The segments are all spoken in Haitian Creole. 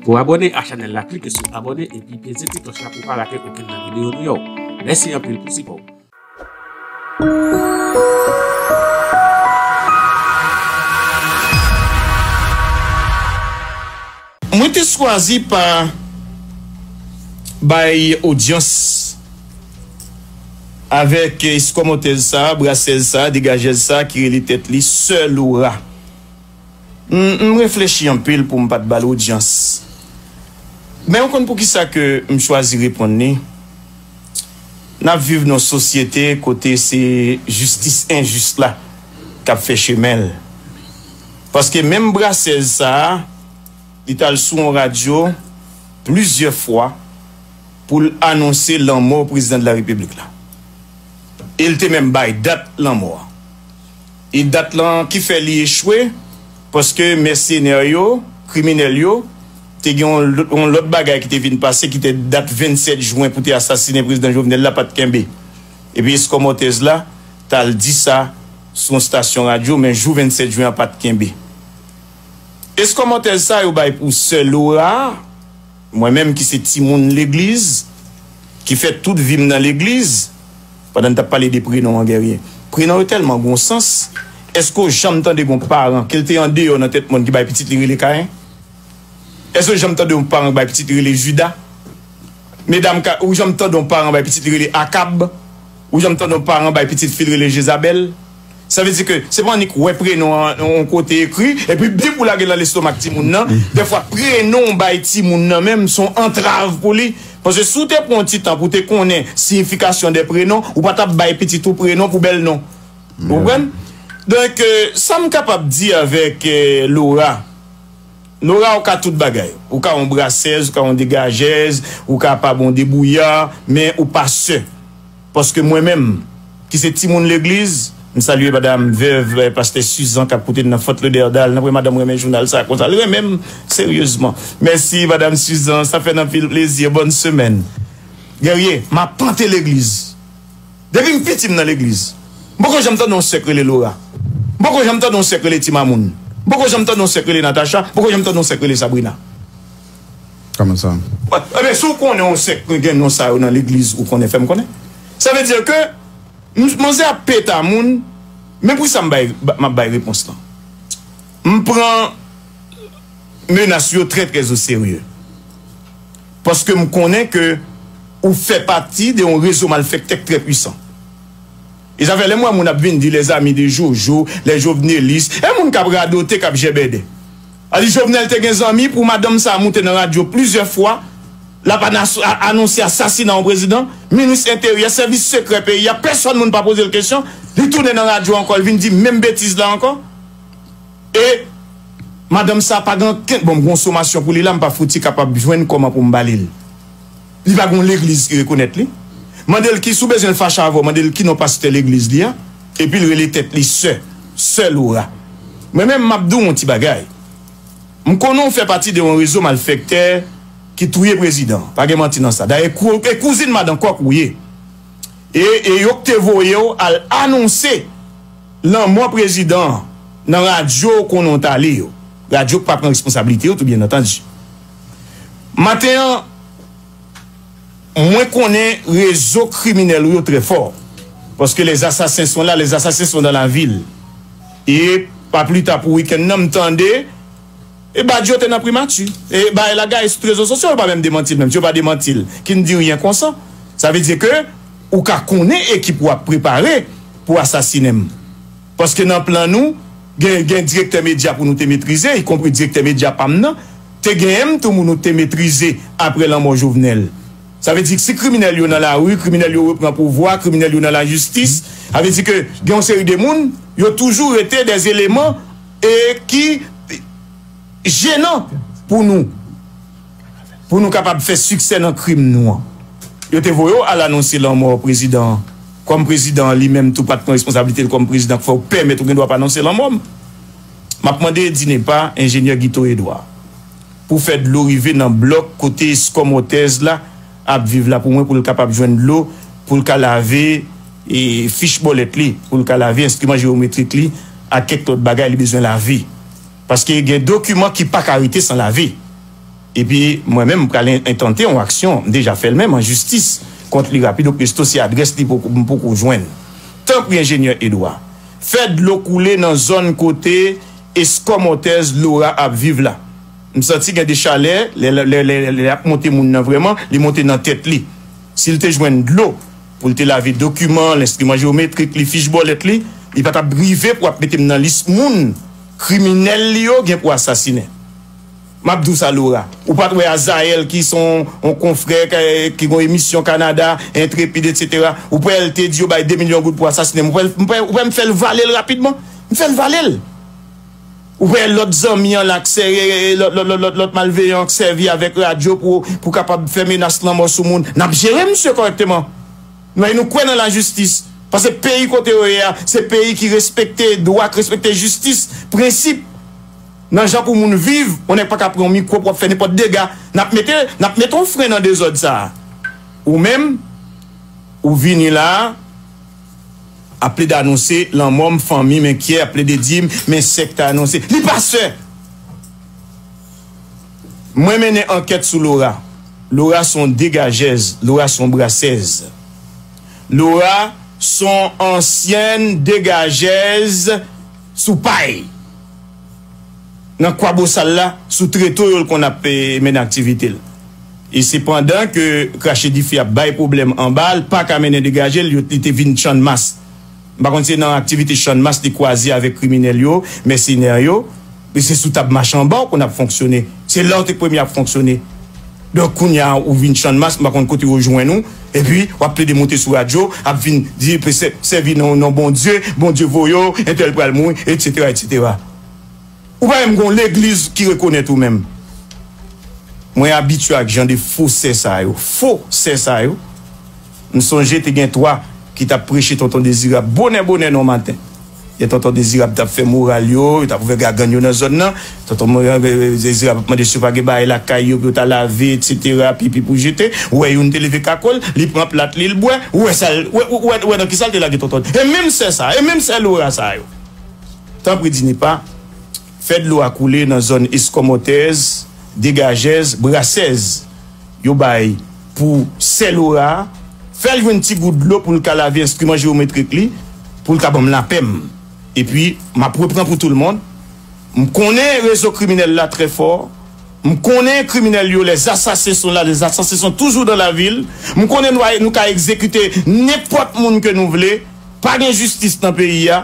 Pou abòne a chanèl la klike sou abòne epi peze ti klòch la pou pa rate okenn nan videyo nou yo. Mèsi anpil pou sipò ou. Mwen te chwazi pa bay odyans avèk eskòmòtèz sa a, brasèz sa a, degajèz sa a ki rele tèt li Sè Lora. M reflechi anpil pou m pa t ba l odyans. Men ou konn poukisa ke m chwazi reponn li? N ap viv nan yon sosyete kote se jistis enjis la k ap fè chemen l. Paske menm brasèz sa a, li t al sou yon radyo plizyè fwa pou l anonse lanmò Prezidan de la Repiblik la. E l te menm bay dat lanmò a. E dat lan ki fè li echwe, paske mèsenè yo, kriminèl yo, te gen yon lòt bagay ki te vin pase ki te dat 27 jwen pou te asasinen Prezidan Jovenel la pa t kenbe. Epi eskòmòtèz la t al di sa sou yon stasyon radyo men jou 27 jwen an pa t kenbe. Eskòmòtèz sa yo bay pou sè Lora, mwen menm ki se timoun legliz, ki fè tout vi m nan legliz, Pandan n t ap pale de prenon an Guerrier, prenon yo tèlman gen yon sans, èske w janm tande gen yon paran ke l te andeyò nan tèt mòn ki bay pitit li rele Kayen? Èske w janm tande yon paran ki bay pitit li rele Jida? Medam ka, ou janm tande yon paran bay pitit li rele Akab? Ou janm tande yon paran bay pitit fi l rele Jezabèl? Sa vle di ke se pa annik wè prenon an yon kote ekri epi bip ou lage l nan lestomak timoun nan. Dèfwa prenon ou bay timoun nan menm se yon antrav pou li. Paske si w te pran yon ti tan pou w te konnen siyifikasyon dè prenon, ou pa t ap bay pitit ou prenon pou bèl non. Ou konprann? Donk, sa m kapab di avèk Lora, Lora ou ka tout bagay. Ou ka yon brasèz, ou ka yon degajèz, ou kapab yon debouya, men ou pa sè. Paske mwen menm, ki se timoun legliz, m salye madam vèv pastè Suzan kap koute n nan Fort Lauderdale, nan vre madam renmen jounal sa konsa, l renmen m seryezman. Mèsi madam Suzan, sa fè n anpil plezi, bòn semèn. Guerrier, m apante legliz. Depi m piti m nan legliz. M poko janm tande yon sè k rele Laura. M poko janm tande yon sè k rele Ti Mamoun. M poko janm tande yon sè k rele Natacha, m poko janm tande yon sè k rele Sabrina. Kòman sa? Ebyen si w konnen yon sèk ki gen non sa yo nan legliz ou konnen fè m konnen. Sa vle di ke manzè ap peta moun men pou sa m bay m ap bay repons lan. M pran menas yo trè trè o serye paske m konnen ke ou fè pati de yon rezo malfèktè k trè pwisan. E sa fè lè m wè moun ap vin di les amis de Jojo, les jovenelistes, e moun k ap radote k ap jèbèdè. Ali Jovenel te gen zanmi pou madanm sa moute nan radyo plizyè fwa lap anonse asasina yon prezidan, minis enteryè, sèvis sekrè peyi a pèsòn moun pa pozel kesyon, li tounen nan radyo ankò li vin di menm betiz la ankò e madanm sa pa gen ankenn bon m gon somasyon pou li la m pa fouti kapab jwenn kòman pou m balil. Li pa gon legliz ki rekonèt li. Mande l ki si w bezwen l fache avè w mande l ki non pastè legliz li a. Epi l rele tèt li sè. Sè Laura. Mwen menm m ap di w yon ti bagay. M konnen w fè pati de yon rezo malfèktè ki touye prezidan an. Pa gen manti nan sa. Dayè e kouzin madan kòk ou ye. E e yo k te voye w al anonse lanmò prezidan an nan radyo w konnen w t ale yo. Radyo k pa pran responsablite yo tou byen antandi. Maten an Mwen konnen rezo kriminèl ou yo trè fò paske les assassins sont là, les assassins sont dans la ville e pa pli ta pou wikenn nan m tande e Badio te nan primati e Bae la gaye sou trezo sosyo yo pa menm demanti l menm si yo pa demanti l ki n di ryen konsa sa vle di ke ou ka konnen ekip ou ap prepare pou asasinen m. Paske nan plan nou, gen gen direktè medya pou nou te metrize, ikonpri direktè medya pa m nan. Te gen m tou mou nou te metrize apre lanmò Jovenel. Sa vle di si kriminèl yo nan lari, kriminèl yo repran pouvwa, kriminèl yo nan lajistis, sa vle di ke gen yon seri de moun, yo toujou rete de zeleman e ki jenan pou nou. pou nou kapab fè siksè nan krim nou an. Yo te voye w al anonse lanmò prezidan an kòm prezidan an li menm tou pa t pran responsablite l kòm prezidan k fè w pèmèt ou gen dwa pa anonse lanmò m. M ap mande DINEPA, Enjenyè Guito Edouard, pou fè dlo rive nan blòk kote Eskomotez la ap viv la pou mwen pou l kapab jwenn dlo pou l ka lave fich bòlèt li, pou l ka lave enstriman jewometrik li ak kèk lòt bagay li bezwen lave. Paske gen dokiman ki pa ka rete san lave. Epi mwen menm m pral entante yon aksyon, m deja fè l menm, an jistis kont li rapido presto si adrès li m poko jwenn. Tanpri Enjenyè Edwa, fè dlo koule nan zòn kote eskòmòtèz Lora ap viv la. M santi gen de chalè lè lè ap monte moun nan vrèman, li monte nan tèt li. Si l te jwenn dlo. Pou l te lave dokiman l, enstriman jewometrik li, fich bòlèt li, li pa t ap rive pou ap mete m nan lis moun kriminèl li yo gen pou asasinen. M ap di w sa Lora, ou pa t wè Azayèl ki se yon konfrè ki gen yon emisyon Kanada, Intrépide etc. Ou kwè l te di yo bay 2 milyon goud pou asasinen m? Ou kwè m fè l vale l rapidman? M fè l vale l! Wè lòt zanmi an la k sè lòt malveyan an k sèvi avèk radyo pou kapab fè menas lanmò sou moun. N ap jere misye kòrèkteman. N ap nou kwè nan lajistis. Pase peyi kote yo ye a se peyi ki respekte dwa, k respekte jistis, prensip nan jan pou moun viv. Yon nèg pa ka pran yon mikwo pou ap fè nenpòt dega. N ap mete n ap mete yon fren nan dezòd sa a. Ou menm ou vini la a. Ap plede anonse lanmò m Fanmi m enkyè ap plede di m Men sèk ta anonse li pa sè Mwen mennen ankèt sou Lora Lora s on degajèz Lora s on brasèz Lora s on ansyèn degajèz sou pay. nan Kwabosal la sou treto yo l konn ap mennen aktivite l. E se pandan ke krache dife ap bay pwoblèm anba a l pa ka mennen degaje l yo li te vin Channmas. M pa konn si se nan aktivite Channmas li kwaze avèk kriminèl yo, mèsenè yo. Se sou tab machanba w konn ap fonksyone. Se la w te premye ap fonksyone. Donk kounya ou vin channmas m pa konn kote yo jwenn ou epi wap plede monte sou radyo ap vin di sèvi nan non Bondye, Bondye voye w, entèl pral mouri etc etc ou pa menm gon legliz ki rekonèt ou menm mwen abitye ak jan de fo sè sa yo fo sè sa yo. M sonje te gen 3 ki t ap preche Tonton Dezirab bonè bonè nan maten. Lè Tonton Dezirab t ap fè moral yo, yo t ap ouvè gagann yo nan zòn nan, Tonton Dezirab ap mande si yo pa gen bagay lakay yo pou yo ta lave etsetera, pipi pou jete. Ou wè youn te leve kako l, li pran plat li, l bwè. Ou wè sa l, ou wè, ou wè nan kisa l te lage Tonton. E menm sè sa a, e menm sè Lora sa yo! Tanpri Dinipa. Fè dlo a koule nan zòn Eskomòtèz, Degajèz, Brasèz. Yo bay pou sè Lora a. Fè l jwenn ti gout dlo pou l ka lave enstriman jewometrik li, pou l ka ban m lapè m. Epi, m ap repran pou toulmond. M konnen rezo kriminèl la trè fò. M konnen kriminèl yo, les assassins sont là, les assassins sont toujours dans la ville. M konnen nou ka egzekite nenpòt moun ke nou vle. Pa gen jistis nan peyi a.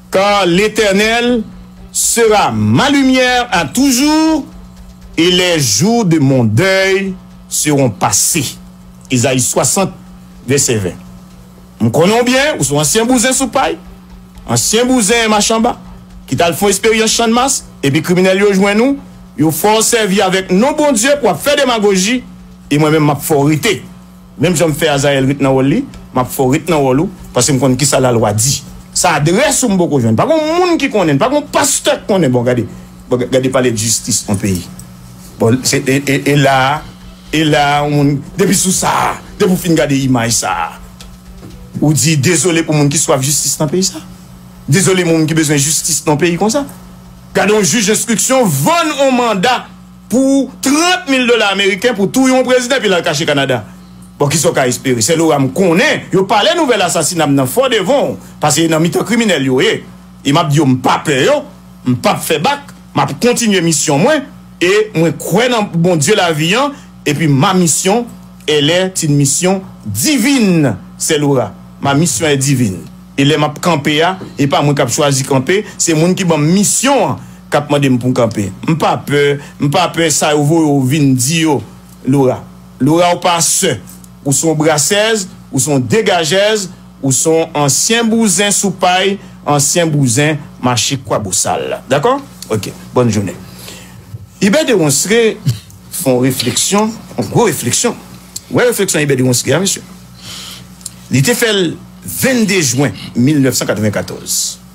Car l'Eternel sera ma lumière à toujours, et les jours de mon deuil seront passés. Ezayi 60 vèsè 20 M konnen w byen, ou se yon ansyen bouzen sou pay, ansyen bouzen machanba ki t al fè yon esperyans Channmas epi kriminèl yo jwenn ou, yo fè w sèvi avèk non Bondye pou w ap fè demagoji e mwen menm m ap fè w rete. Menm jan m fè Azael ret nan wòl li, m ap fè w ret nan wòl ou, paske m konn kisa lalwa di. Sa adrès ou m poko jwenn. Pa gon moun ki konnen l, pa gon pastè k konnen. Bon gade, bon gade pale de jistis on peyi. Bon, se e, e la a, e la a on moun, depi sou sa a, depi ou fin gade imaj sa a, ou di dezole pou moun ki swaf jistis nan peyi sa a. Dezole moun ki bezwen jistis nan on peyi konsa. Gade on jij enstriksyon vann on manda. Pou 30 mil dola ameriken pou touye yon prezidan epi l al kache Kanada. Bon kisa w ka espere? Sèl ou a m konnen yo pale nouvèl asasina m nan fò devan w pase e nan mitan kriminèl yo ye. E m ap di yo m pa pè yo, m p ap fè bak, m ap kontinye misyon mwen e mwen kwè nan Bondye lavi an epi ma mission elle est une mission divine sèl ou a ma mission est divine e lè m ap kanpe a e pa mwen k ap chwazi kanpe se moun ki ban m misyon an kap mandem poum kanpe m pa pè m pa pè sa yo voye w vin di yo Laura Laura ou pa sè ou son brasèz ou son degajèz ou son ansyen bouzen sou pay ansyen bouzen mache kwabosal dakò ok bòn jounen Hubert de Ronceray fon refleksyon yon gwo refleksyon ou wè refleksyon Hubert de Ronceray a mesye li te fèl 22 jwen 1994.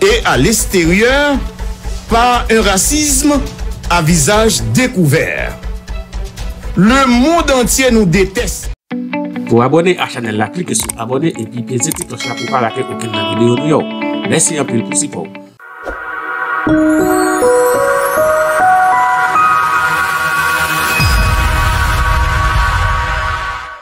Et à l'extérieur par un racisme à visage découvert Le monde entier nous déteste. Pou abòne a chanèl la klike sou abòne epi peze ti klòch la pou pa rate okenn nan videyo nou yo. Mèsi anpil pou sipò ou.